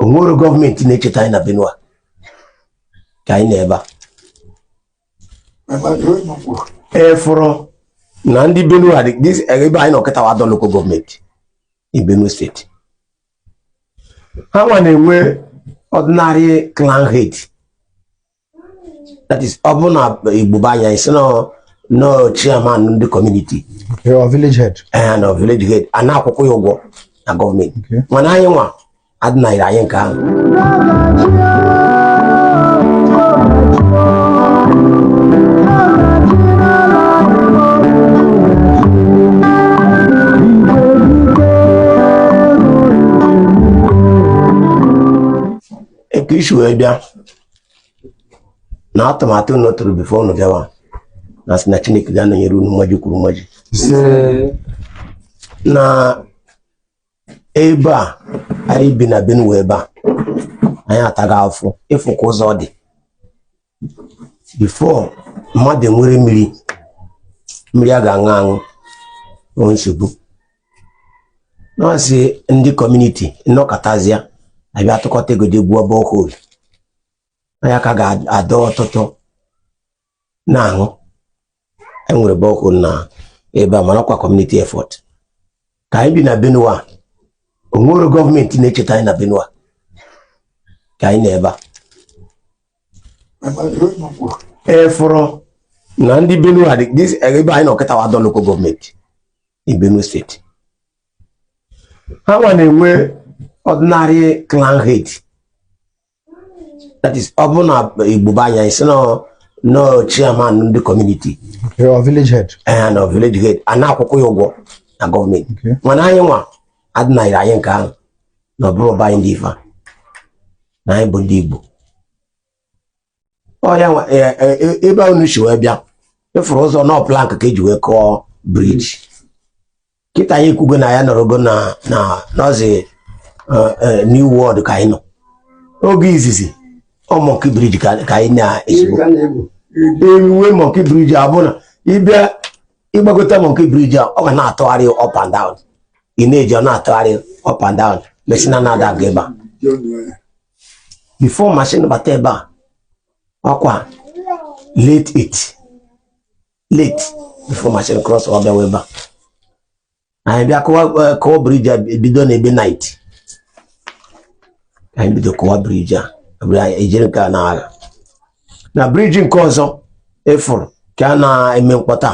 onwero gọọmenti na-echeta anyị na Benue ka anyị nọ ebe a ị fụrụ na ndị Benue ebe anyị nọ kịta wa Ado lokal gọọmenti in Benue steeti ha nwa na-enwe ordinary clan head that is ọ bụrụ na Igbo be anyị a sị na ọ chairman ndị kọmuniti village head ee na village head a na-akwụkwa ya ụgwọ na gọọmenti mana anyị nwa adịnaghịrị anyị nke ahụ ka i si wee bịa na atụmatụ unu tụrụ bifo unu bịawa na-asị na Chineke ga-anọnyere unu mmaji kwuru mmaji na ebe a anyị bi na Benue ebe a anyị atago afụfụ ị fụ ka ụzọ dị bifo mmadụ nwere mmiri mmiri a ga-aṅụ aṅụ ọ nsogbu na-asị ndị kọmuniti nọkọtazịa abịa tụkọta ego jee gwuo bohol ọ ya ka a ga-adọ ọtụtụ na-aṅụ enwere bohol na ebe a mana ọkwa kọmuniti efọt ka anyị bi na Benue onwero gọọmenti na-echeta anyị na Benue ka anyị nọ ebe a ị fụrụ na ndị Benue a dị ebe anyị nọ kịta wa Ado local gọọmenti in Benue steeti ha nwa na-enwe ordinary clan head that is ọ bụrụ na Igbo be anyị a sị na ọ chairman ndị community or village head eh no village head a na-akwụkwa ya ụgwọ na gọọmenti mana anyị nwa adịnaghịrị anyị nke ahụ na ọ bụrụ ọba anyị ndị ife na anyị bụ ndị Igbo ọya e, e, e, ebe a unu si wee bịa ị fụrụ ụzọ na ọ plank ka eji wee kụọ briji kịta anyị ekwugo na anyị nọrọgo na na nọzi new world ka anyị nọ oge izizi ọ mọnki briji ka anyị na-esibu ewu mọnki briji a bụ na ị bịa ị gbagote mọnki briji ọ ga na-atụgharị up and down ị na-eje ọ na-atụgharị up and down mashin na-ada aga ebe a bifo mashin bata ebe a ọkwa late it late bifo mashin crossọ bịawa ebe a anyị bịa kụwa kụwa briji a bido na ebe nait anyị bido kụwa briji a ejiri nke a na-agha na briji nke ọzọ efuru ka a na-eme mkpọta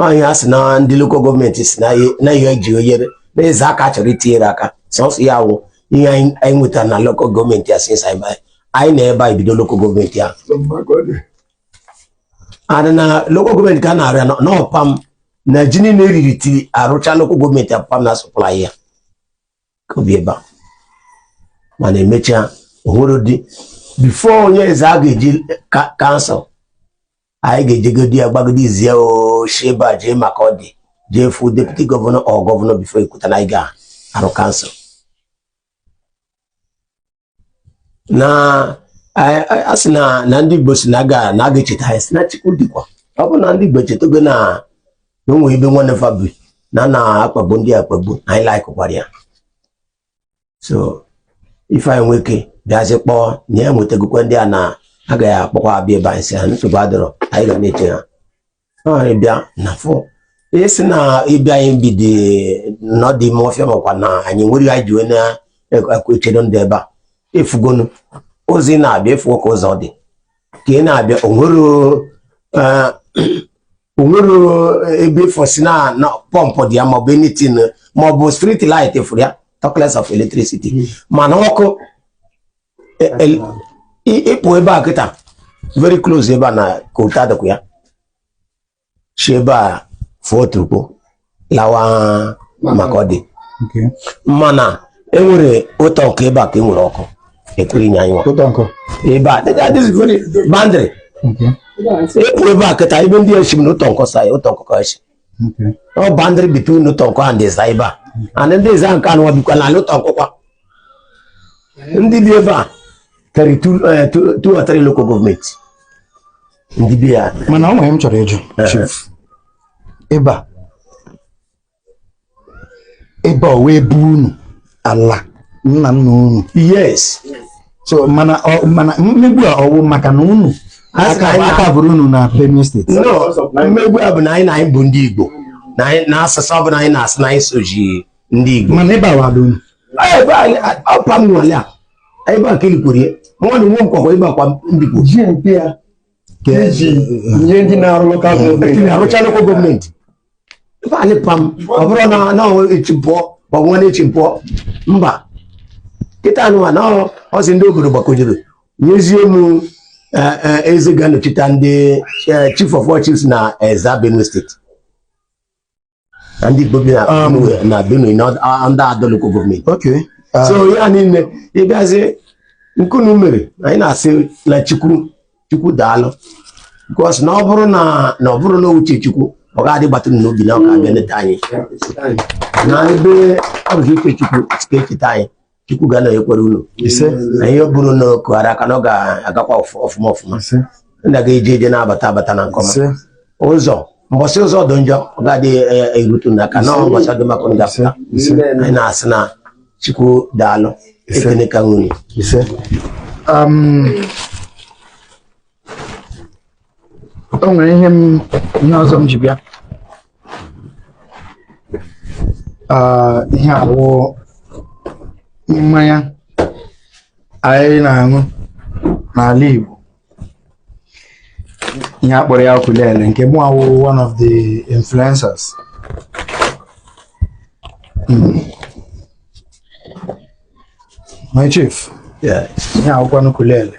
onye a sị na ndị lokal gọọmenti si na ihe eji oyere na Ezza aka chọrọ itinyere aka sọsọ ya wụ ihe anyị nwetara na lokal gọọmenti a since anyị nọ ebe a bido lokal gọọmenti a adị na lokal gọọmenti ka a na-arụ ya na ọ pa m na ji niile eriri till arụcha lokal gọọmenti ọ pa m na-supply ya ka o bi ebe a mana emechaa ohụrụ dị before onye Ezza ga-eji kansụl anyị ga-ejegodi ya gbagodi zie o shi ebe a jee Makurdi jee fụ deputi gọvanọ or gọvanọ before ekwuta na anyị ga-arụ kansụl na a sị na na ndị Igbo si na aga na aga echeta anyị si na Chukwu dịkwa ọ bụ na ndị Igbo echetago na enwe ebe nwanne fa bi na na akpagbu ndị a akpagbu anyị likekwara ya so ife anyị nwoke bịazi kpọọ na ya nwetagokwa ndị a na a ga-akpọkwa abịa ebe a anyị si ha nsogbu adịrọ anyị ga na-eche ha ịbịa na fụ esi na ịbịa anyị bidi n'ụdị ime ọfịa makwa na anyị nwere anyị ji wee na-echedo ndị ebe a ị fụgonu ụzọ ị na-abịa ị fụgo ka ụzọ dị ka ị na-abịa o nwere eh, ebe ị fụ sị na pọmpụ dị ya maọbụ anything maọbụ street light ị fụrụ ya talkless of electricity hmm. mana ọkụ ịpụ ebe a kịta very close ebe a na kota dịkwa ya si ebe a fụọ Otukpo lawa Makurdi mana enwere Utonkon ebe a ka enwere ọkụ ekwere inye anyị ebe a boundary ịpụ ebe a kịta ebe ndị esi m na Utonkon sa ya Utonkon esi ọ boundary between Utonkon and Ezza ebe a and ndị Ezza nke anụ bikwa na Utonkon kwa ndị bi ebe a karịrị eh, two or three local gọọmenti ndị bi ya mana o nwere ihe m chọrọ ịjụ eh. chief ebe a ebe a ọ wụ ebe unu ala nna nna unu yes so mana ọ- mana mmegbu a ọ wụ maka na unu aka bụrụ unu na Benue steeti no mmegbu a bụ na anyị na anyị bụ ndị igbo na anyị- na asụsụ ọ bụla anyị na-asụ na anyị soji ndị igbo mana ebe a wadụ unu ebe anyị ọ pa m nwe ala a ebe a ka e likwara ya nwanne m nwoke kwa ebe a kwa ndị igbo iji nye ndị na-arụ lokal gọọmenti na-arụcha lokal gọọmenti ebe a eli pa m ọ bụrụ na na echi m pụọ ma ọ bụ nwanne echi m pụọ mba kịta anụwa na ọsị ndị obodo gbakọjere nyezie m e, e, eze ga-anọchite ndị e, chief of all chiefs na Ezza Benue steeti na ndị Igbo bi na Um, Benue na Benue na ọ- a- ndị Ado local government Okay. Ah, so ihe a niile ịbịazi nkunu mere anyị na-asị na chukwu chukwu daalụ because na ọ bụrụ na na ọ bụrụ na uche chukwu ọ ga-adị gbatụ m n'obi na ọ ga-abịa neta anyị na ebe ọ bụ uche chukwu sị ka e cheta anyị chukwu ga na-enyekwara unu na ihe ọ bụrụ na kụghara aka na ọ ga-agakwa ọfụma ọfụma na ga-eje eje na-abata abata na nkọma ụzọ mbọsị ụzọ dị njọ ọ ga-adị e, e, erute unu aka na mbọsị dị mma ka unu ga-apụta anyị na-asị na chukwu daalụ ekene ka nwunye um, o nwere ihe m ihe ọzọ m ji bịa Ah, ihe a wụ mmanya anyị na-aṅụ n'ala Igbo ihe a kpọrọ ya okulele nke mụwa wụ one of the influencers Mm. my chief Yeah. ihe a wụkwanụ okulele